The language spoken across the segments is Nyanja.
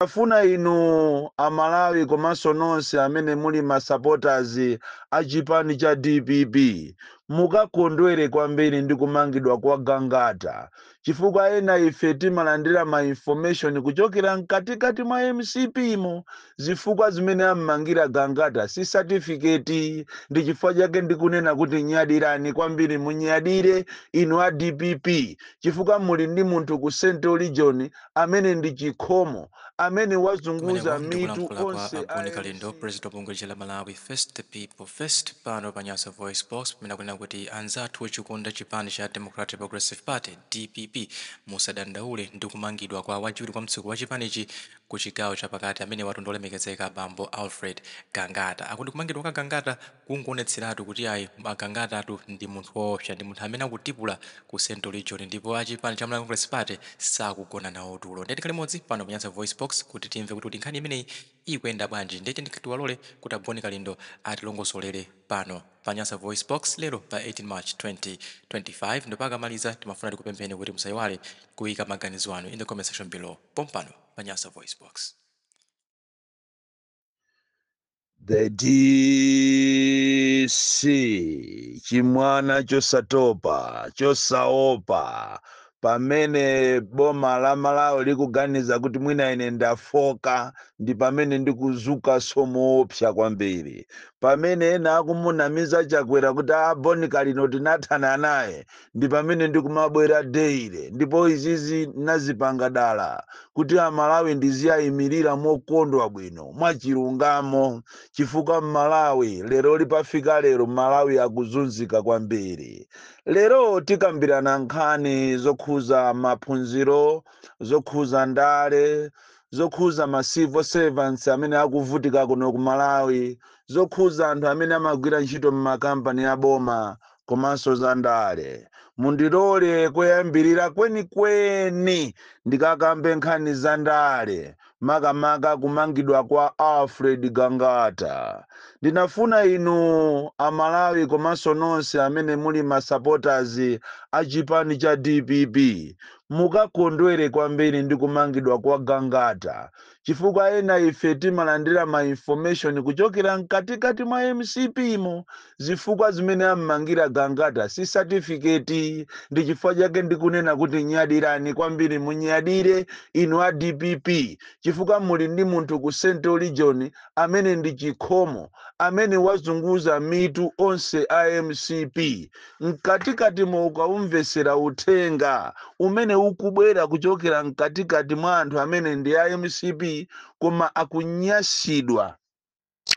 Ndimafuna inu a Malawi komanso nonse amene muli ma supporters a chipani cha dpp mukakondwere kwambiri ndi kumangidwa kwa Gangata chifukwa ena ife timalandira ma information kuchokera mkatikati mwa mcp mo zifukwa zimene ammangira Gangata si certificate ndi chifukwa chake ndikunena kuti nyadirani kwambiri munyadire inu a dpp chifukwa muli ndi munthu ku central region amene ndi chikhomo, amene wazunguza mitu onse a mcp. Kumeneko ndi kulankhula kwa a Bon Kalindo, president wa bungwe lija la Malawi First the People First pano pa Nyasa Voice Box pamene akunena kuti anzathu ochikonda chipani cha Democratic Progressive Party DPP musadandaule ndi kumangidwa kwa wachiwiri kwa mtsogoleri wa chipanichi ku chigawo chapakati amenewatu ndi olemekezeka bambo Alfred Gangata. Akuti kumangidwa kwa Gangata kungoonetseratu kuti ayi a Gangatatu ndi munthu woopsa, ndi munthu amene akutipula ku central region ndipo a chipani cha Malawi Congress Party sakugona nawo tulo. Ndiye tikhale limodzi pano pa Nyasa VoiceBox kuti timve kuti kodi nkhani imeneyi ikuyenda bwanji. Ndiye tiyeni tiwalole kuti a Bon Kalindo atilongosolere pano pa Nyasa VoiceBox lero pa 18 March 2025 ndipo akamaliza timafuna tikupempheni kuti musaiwale kuika maganizo anu in the comment section below pompano pa Nyasa VoiceBox. the dc chimwana chosatopa chosaopa pamene boma la malawi likuganiza kuti mwina ine ndafoka ndi pamene ndikuzukanso moopsa kwambiri pamene ena akumunamiza chakwera kuti a bon kalindo tinathana naye ndi pamene ndikumabwera daily ndipo izizi nazipanga dala kuti amalawi ndiziyayimirira mokondwa bwino mwachilungamo chifukwa mmalawi lero lipafika lero malawi akuzunzika kwambiri lero tikambirana nkhani zokhuza maphunziro zokhuza ndale zokhuza ma civil servants amene akuvutika kuno ku malawi zokhuza anthu amene amagwira ntchito m'makampani a boma komanso za ndale, mundilole koyambirira kwenikweni ndikakambe nkhani za ndale, makamaka kumangidwa kwa Alfred Gangata. Ndinafuna inu a Malawi komanso nonse amene muli ma supporters a chipani cha dpp mukakondwere kwambiri ndi kumangidwa kwa Gangata chifukwa ena ife timalandira ma information kuchokera mkatikati mwa mcp mo zifukwa zimene ammangira gangata si satifiketi ndi chifukwa chake ndikunena kuti nyadirani kwambiri munyadire inu a dpp chifukwa muli ndi munthu ku central region amene ndi chikhomo amene wazunguza mitu onse a mcp mkatikatimo ukaumvetsera uthenga umene ukubwera kuchokera mkatikati mwa anthu amene ndi a mcp koma akunyasidwa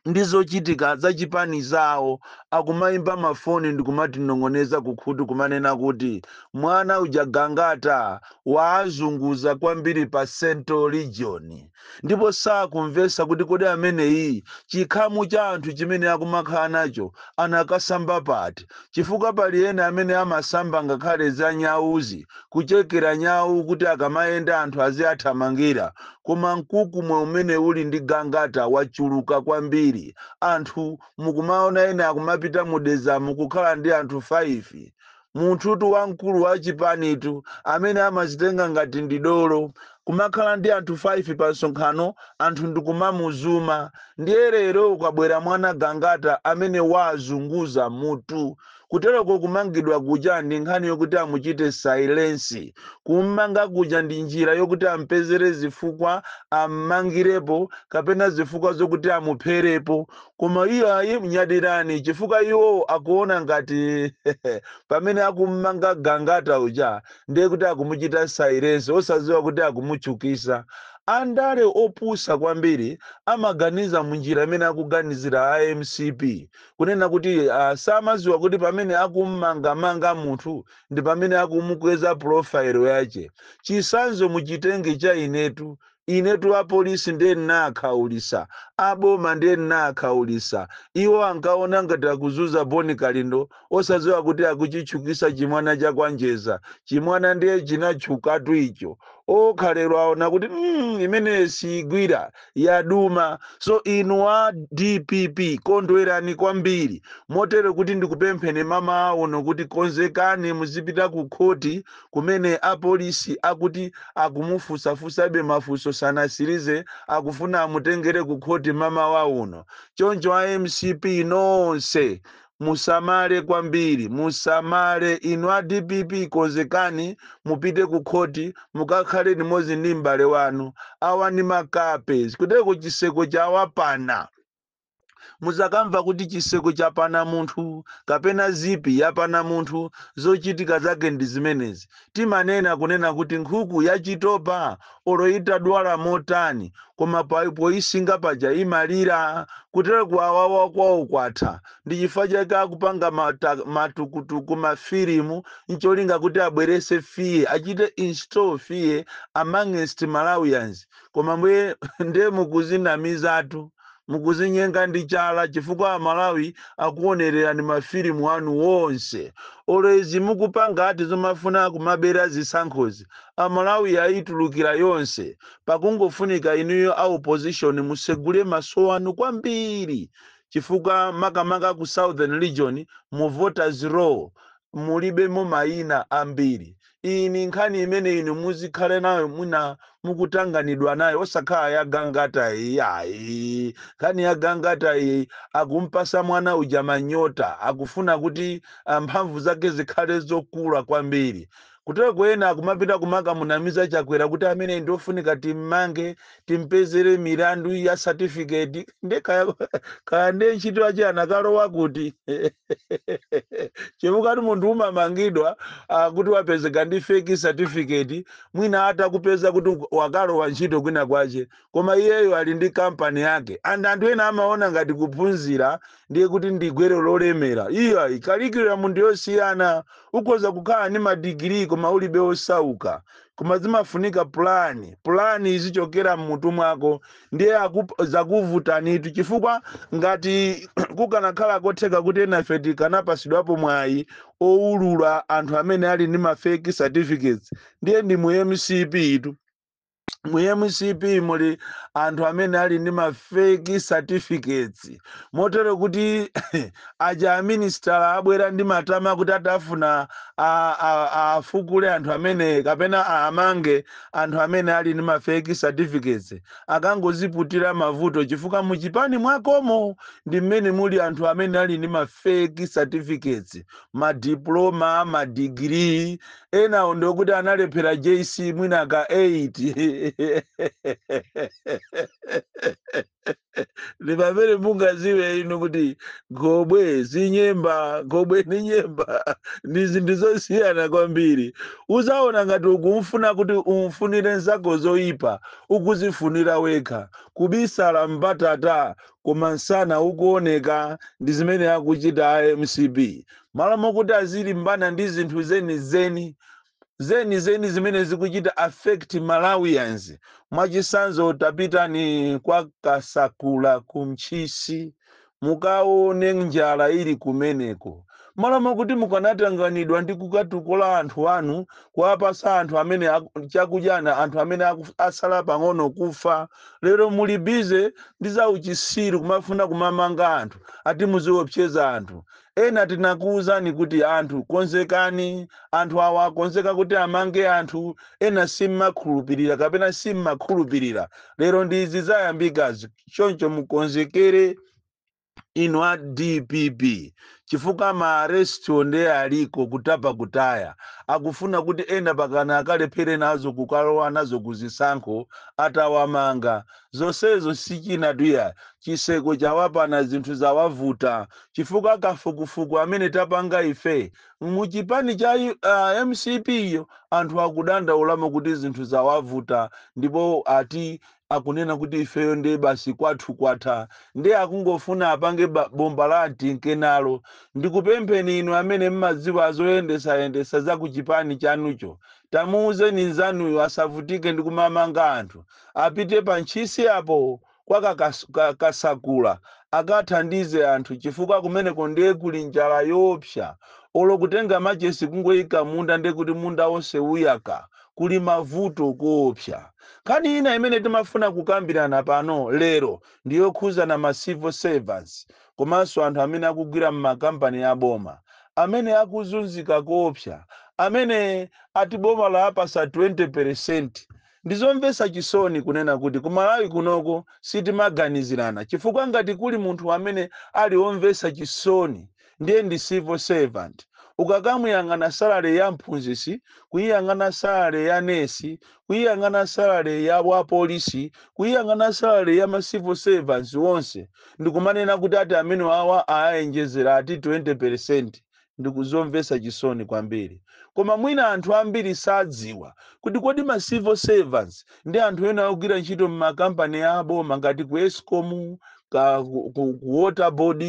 ndi zochitika za chipani zawo akumaimba mafoni ndikumatinong'oneza kukhutu kumanena kuti mwana uja gangata waazunguza kwambiri pa central region ndipo sakumvetsa kuti kodi ameneyi chikhamu cha anthu chimene akumakhala nacho anakasamba pati chifukwa pali ena amene amasamba ngakhale za nyawuzi kuchekera nyawu kuti akamayenda anthu aziathamangira koma mkukumwe umene uli ndi gangata wachuluka kwambiri anthu mukumaona ena akumapita ku Dedza mu kukhala ndi anthu 5 munthutu wamkulu wa chipanitu amene amazitenga ngati ndi dolo kumakhala ndi anthu 5 pa msonkhano anthu ndikumamuzuma ndiye lero kwabwera mwana gangata amene wazunguza mutu kutereko kumangidwa kuja ndi nkhani yokuti amuchite sailensi kummanga kuja ndi njira yokuti ampezere zifukwa ammangirepo kapena zifukwa zokuti amupherepo Koma iyo ayi nyadirani chifukwa iwo akuona ngati pamene akummanga Gangata uja ndiye kuti akumuchita silence osadziwa kuti akumutchukisa. Andale opusa kwambiri amaganiza munjira imene akuganizira a mcp kunena kuti samadziwa kuti pamene akummanga manga munthu ndipamene akumukweza profile yache. Chisanzo muchitenge cha inetu Inetu apolisi ndiye ndinaakhaulisa, a boma ndiye ndinaakhaulisa. Iwo ankaona ngati akuzunza Bon Kalindo osaziwa kuti akuchitchukisa chimwana cha kwa Njedza. Chimwana ndiye chinatchukatu icho. Okha lero aona kuti mm imeneyo siigwira, yaduma. So inu a dpp kondwerani kwambiri. Moti kuti ndikupempheni mamawa uno kuti konzekani muzipita ku khoti kumene apolisi akuti akumufunsafunsabe mafunso sanatsirize akufuna amutengere ku khoti mamawa uno choncho a mcp nonse musamale kwambiri musamale inu a dpp konzekani mupite ku khoti mukakhale limodzi ndi m'bale wanu awa ndi makape kutereko chitseko chawapana Muzakamva kuti chitseko chapana munthu kapena zipi yapana munthu zochitika zake ndi zimenezi. Timanena kunena kuti nkhuku yachitopa olo itadwala motani koma pa poisinga paja imalira. Kutero kuwawawa kwawo kwatha. Ndi chifukwa chake akupanga matukutuku mafilimu ncholinga kuti abwerese fear, achite install fear amongst Malawians. koma inuyo ndiye mukuzinamizatu mukuzinyenga ndi chala chifukwa amalawi akuonererani mafilimu anu onse olo izi mukupanga ati zomafuna kumabera zisankhozi amalawi ayitulukira yonse pakungofunika inuyo a opposition musegule maso anu kwambiri chifukwa makamaka ku southern region mu voters roll mulibemo mayina ambiri iyi ni nkhani imene inu muzikhale nayo mwina mukutanganidwa nayo osakhala ya gangata iyi ayi nkhani ya gangata iyi akumpasa mwana uja manyota akufuna kuti ah, mphamvu zake zikhale zokula kwambiri kutereko ena akumapita kumakamunamiza chakwera kuti ameneyu ndi ofunika timmange timpezere milandu ya satifiketi nde kaya kaya nde ntchito yache anakalowa kuti chifukwatu munthu umamangidwa ah, kuti wapezeka ndi fake certificate mwina atakupeza kuti uk- wakalowa ntchito kwina kwache koma iyeyo ali ndi kampani yake and anthu ena amaona ngati kuphunzira ndiye kuti ndi gwero lolemera iyayi kalikiliki ya munthu yosiyana ukhoza kukhala ndi madigiri koma ulibe osauka koma zimafunika pulani pulani izichokera mmutu mwako ndiye akup- zakuvutanitu chifukwa ngati kukanakhala kotheka kuti enafe tikanapasidwapo mwayi owulula anthu amene ali ndi ma fake certificates ndiye ndi mu mcp itu mu mcp muli anthu amene ali ndi ma fake certificates motero kuti aja aminisitala abwera ndi matama kuti atafuna a- a- afukule anthu amene kapena amange Anthu amene ali ndi ma fake certificates akangoziputira mavuto chifukwa mu chipani mwakomo ndi mmene muli anthu amene ali ndi ma fake certificates, ma diploma, ma degree, enawo ndi okuti analephera JC mwina ka 8. ndi pamene mungaziwe inu kuti khobwe si nyemba khobwe ni nyemba ndi zinthu zosiyana kwambiri uzaona ngati ukumfuna kuti umfunire nzako zoyipa ukuzifunira wekha kubisala mbatata koma nsana ukuoneka ndi zimene akuchita a mcp malo mokuti azilimbana ndi zinthu zenizeni zimene zikuchita affect Malawians. Mwachitsanzo tapitani kwa Kasakula ku Ntchisi mukaone njala ili kumeneko. M'malo mwakuti mukanatanganidwa ndi kukatukula anthu anu kuwapatsa anthu amene aku- chakudya ana anthu amene aku- atsala pang'ono kufa, lero muli bize ndi zauchisiru kumafuna kumamanga anthu ati muziopseza anthu. Ena tinakuuzani kuti anthu konzekani, anthu awa akonzeka kuti amange anthu, ena simumakhulupirira kapena simmakhulupirira. Lero ndi izi zayambikazi, choncho mukonzekere inu a dpp chifukwa ma arrestwo ndiye aliko kutapa kutaya. Akufuna kuti ena pakana akalephere nazo kukalowa nazo ku zisankho atawamanga. Zonsezo si chinatu ayi, chitseko chawapana zinthu zawavuta chifukwa kafukufuku amene tapanga ife mu chipani cha mcp yo anthu akudandaulamo kuti zinthu zawavuta ndipo ati akunena kuti ifeyo ndiye basi kwathu kwatha ndiye akungofuna apange ba- bomba la tinkenalo ndikupempheni inu amene mumadziwa zoyendesayendesa za ku chipani chanucho tamuuzeni nzanuyo asavutike ndi kumamanga anthu apite pa Ntchisi apo kwa ka, ka, ka Kasakula akathandize anthu chifukwa kumeneko ndiye kuli njala yoopsa. Olo kutenga machesi kungoika munda ndiye kuti munda onse uyaka. Kuli mavuto koopsa. Nkhani ina imene timafuna kukambirana pano lero ndi yokhudzana ma civil servants komanso anthu amene akugwira m'makampani a boma amene akuzunzika koopsa amene ati boma lawapatsa 20% Ndizomvetsa chisoni kunena kuti ku Malawi kunoko sitimaganizirana chifukwa ngati kuli munthu amene ali omvetsa chisoni ndiye ndi civil servant. Ukakamuyang'ana salary ya mphunzitsi, kuyiyang'ana salary ya nurse, kuyiyang'ana salary ya wapolisi, kuyiyang'ana salary ya ma civil servants onse ndikumanena kuti ati amenewawa awaonjezera ati 20% ndi zomvetsa chisoni kwambiri. Koma mwina anthu ambiri sadziwa kuti kodi ma civil servants ndi anthu ena ogwira ntchito m'makampani a boma ngati ku escom, ka, ku, ku, ku water board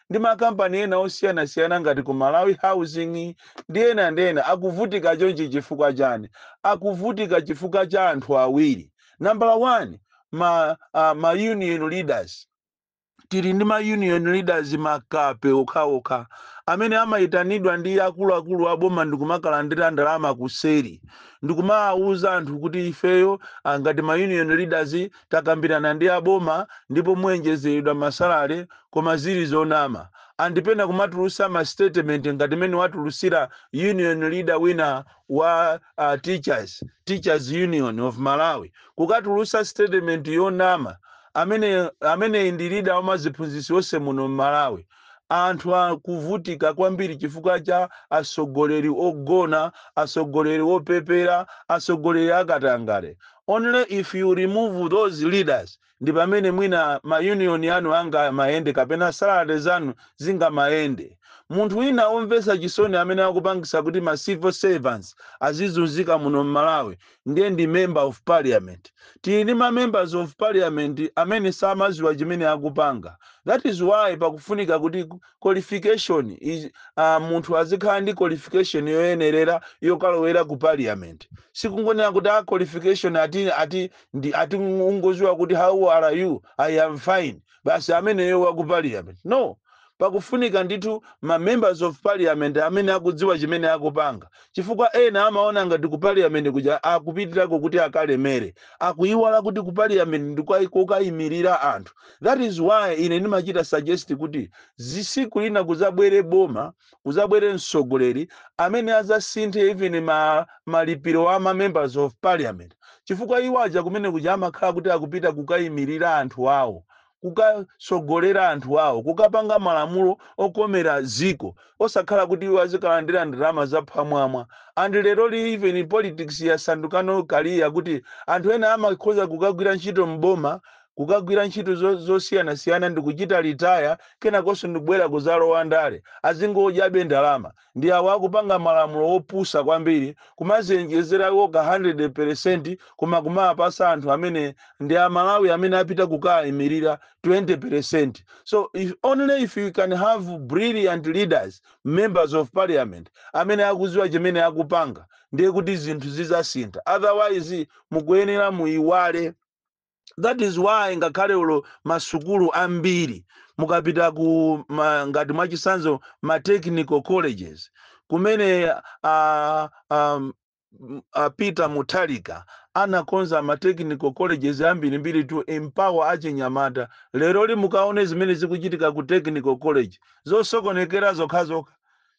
ndi makampani ena osiyanasiyana ngati ku malawi housing ndi ena ndi ena akuvutika chonchi chifukwa chani akuvutika chifukwa cha anthu awiri nambala 1 ma, uh, ma union leaders tili ndi ma union leaders makape okhaokha amene amaitanidwa ndi akuluakulu a boma ndikumakalandira ndalama kuseri ndikumawawuza anthu kuti ifeyo ah, ngati ma union leaders takambirana ndi aboma ndipo muyenjezeredwa masalale koma zili zonama ndipo ena kumatulutsa ma statement ngati mene watulutsira union leader wina wa uh, teachers teachers union of malawi kukatulutsa statement yonama Amene ndi leader wa maziphunzitsi onse muno mmalawi anthu akuvutika kwambiri chifukwa cha atsogoleri ogona atsogoleri opepera atsogoleri akatangale only if you remove those leaders ndipamene mwina ma union anu angamayende kapena salary zanu zingamayende munthu wina omvetsa chisoni amene akupangisa kuti ma civil servants azizunzika muno mmalawi ndiye ndi member of parliament. Tili ndi ma members of parliament amene samaziwa chimene akupanga. That is why pakufunika kuti qualification is, uh, munthu azikhala ndi qualification yoyenerera yokalowera ku parliament. Sikungonena kuti a qualification ati ungoziwa kuti how are you? I am fine. basi ameneyo wa ku parliament no pakufunika ndithu ma members of parliament amene akudziwa chimene akupanga chifukwa ena amaona ngati ku parliament kuja akupitirako kuti akalemere akuiwala kuti ku parliament ndi kukayimirira anthu that is why ine ndimachita suggest kuti tsiku lina kuzabwere boma kuzabwere msogoleri amene azasinthe even ma malipiro a ma members of parliament chifukwa iwo aja kumene kuja amakhala kuti akupita kukayimirira anthu awo kukasogolera anthu awo kukapanga malamulo okomera dziko osakhala kuti iwo azikalandira ndalama zaphamwamwa and leroli even politics yasanduka no career kuti anthu ena amakhoza kukagwira ntchito mboma kukagwira ntchito zo- zosiyanasiyana ndikuchita retire kenakonso ndikubwera kuzalowa ndale azingodyabe ndalama ndi awo akupanga malamulo opusa kwambiri kumaziwonjezera okha 100 percent koma kumawapasa anthu amene ndi amalawi amene apita kukayimirira 20 percent so only if you can have brilliant leaders members of parliament amene akuziwa chimene akupanga ndiye kuti zinthu zizasintha otherwise mukuyenera muyiwale that is why ngakhale ulo masukulu ambiri mukapita ku ma, ngati mwachisanzo ma technical colleges kumene uh, um, uh, peter mutharika anakonza ma technical colleges ambirimbiri to empower achinyamata leroli mukaone zimene zikuchitika ku technical college zosokonekera zokhazokha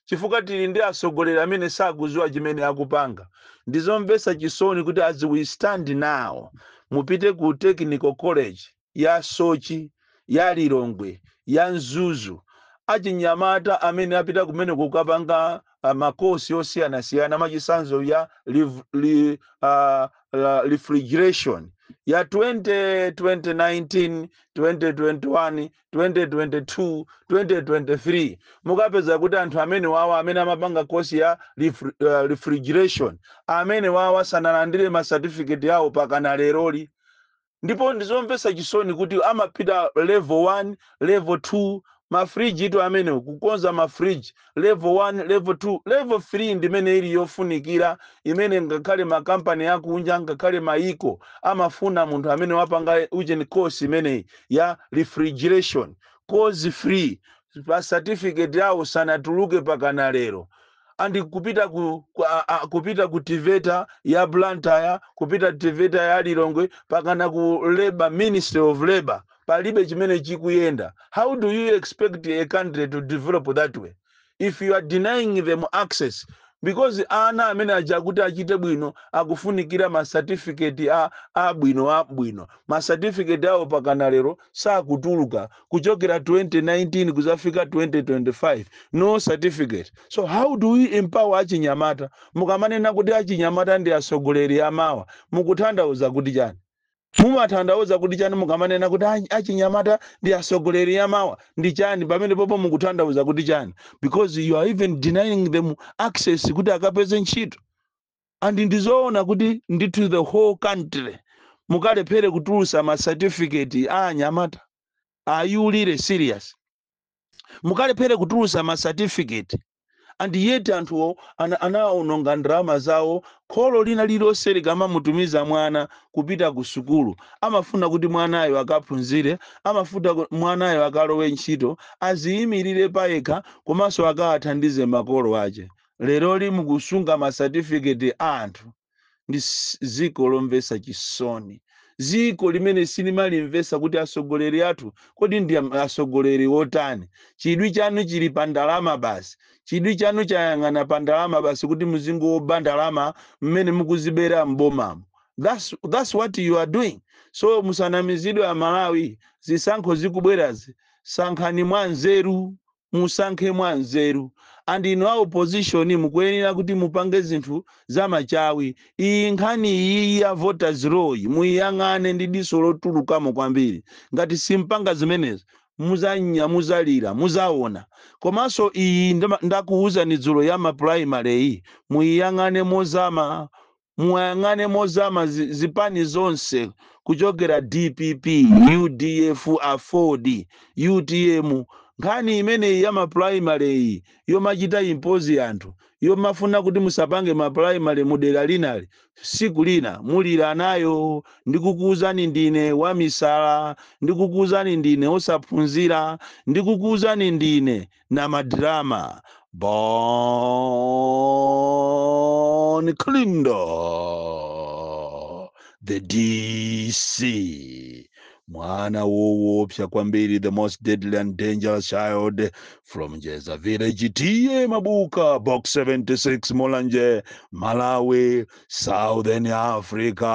chifukwa tili ndi atsogoleri amene sakuziwa chimene akupanga. Ndizomvesa chisoni kuti as we stand now mupite ku technical college ya Soche, ya Lilongwe, ya Mzuzu achinyamata amene apita kumene kukapanga uh, ma course osiyanasiyana mwachitsanzo ya liv- li, uh, la- refrigeration ya 20, 2019, 2021, 2022 2023 mukapeza kuti anthu amene wawa amene amapanga kosi ya refri- uh, refrigeration amene wawa sanalandire ma certificate yawo pakana leroli ndipo ndizomvetsa chisoni kuti amapita level 1 level 2 mafriji itu amenewo kukonza mafriji Level 1, Level 2, Level 3 ndi imene ili yofunikira, imene ngakhale makampani akunja ngakhale mayiko amafuna munthu amene wapanga ujeni course imeneyi ya refrigeration, course free, ma certificate awo sanatuluke pakana lero. And kupita ku, ku, a, a, kupita ku Tiveta ya Blantyre, kupita Tiveta ya Lilongwe, pakana ku Labor, Ministry of Labor. palibe chimene chikuyenda how do you expect a country to develop that way if you are denying them access because ana amene aja kuti achite bwino akufunikira ma certificate a abwino abwino ma certificate awo pakana lero sakutuluka kuchokera 2019 kuzafika 2025 no certificate so how do we empower achinyamata mukamanena kuti achinyamata ndi asogoleri amawa mukutanthauza kuti chani Mumatanthauza kuti chani mukamanena kuti achinyamata ndi asogoleri amawa ndi chani pamenepopo mukutanthauza kuti chani because you are even denying them access kuti akapeze ntchito and ndizoona kuti ndithu the whole country mukalephere kutulusa ma certificate a anyamata are you really serious? mukalephere kutulusa ma certificate and yet anthuwo ana- anaononga ndalama zawo kholo lina lililonse likamamutumiza mwana kupita ku sukulu amafuna kuti mwanayo akaphunzire amafuna ku- mwanayo akalowe ntchito aziyimirire payekha komanso akawathandize makolo ache leroli mukusunga ma certificate a anthu ndi s- dziko lomvetsa chisoni dziko limene sitimalimvetsa kuti atsogoleri athu kodi ndi am- atsogoleri wotani chidwi chanu chili pa ndalama basi chidwi chanu chayang'ana pa ndalama basi kuti muzingoba ndalama mmene mukuzibera m'bomamo that's, that's what you are doing so musanamizidwe amalawi zisankho zikubwerazi sankhani mwa nzeru Musankhe mwanzeru. And inu a opposition mukuyenera kuti mupange zinthu za machawi. Iyi nkhani iyiyi ya voters roll yi muyiyang'ane ndi diso lotulukamo kwambiri. Ngati simpanga zimenezi muzanya muzalira muzaona. Komanso iyi ndima ndakuuzani dzulo ya ma primary yi muyiyang'ane mozama muwayang'ane mozama zipani zonse kuchokera dpp, udf, aford, utm nkhani imeneyi ya ma primary yi yomachita impose anthu yomafuna kuti musapange ma primary mu dera lina ili siku lina mulira nayo ndikukuuzani ndine wamisala ndikukuuzani ndine osaphunzira ndikukuuzani ndine na madrama bon clindo the dc mwana wowopsa kwambiri the most deadly and dangerous child from jeza village tiye mabuka box 76 mulanje malawi southern africa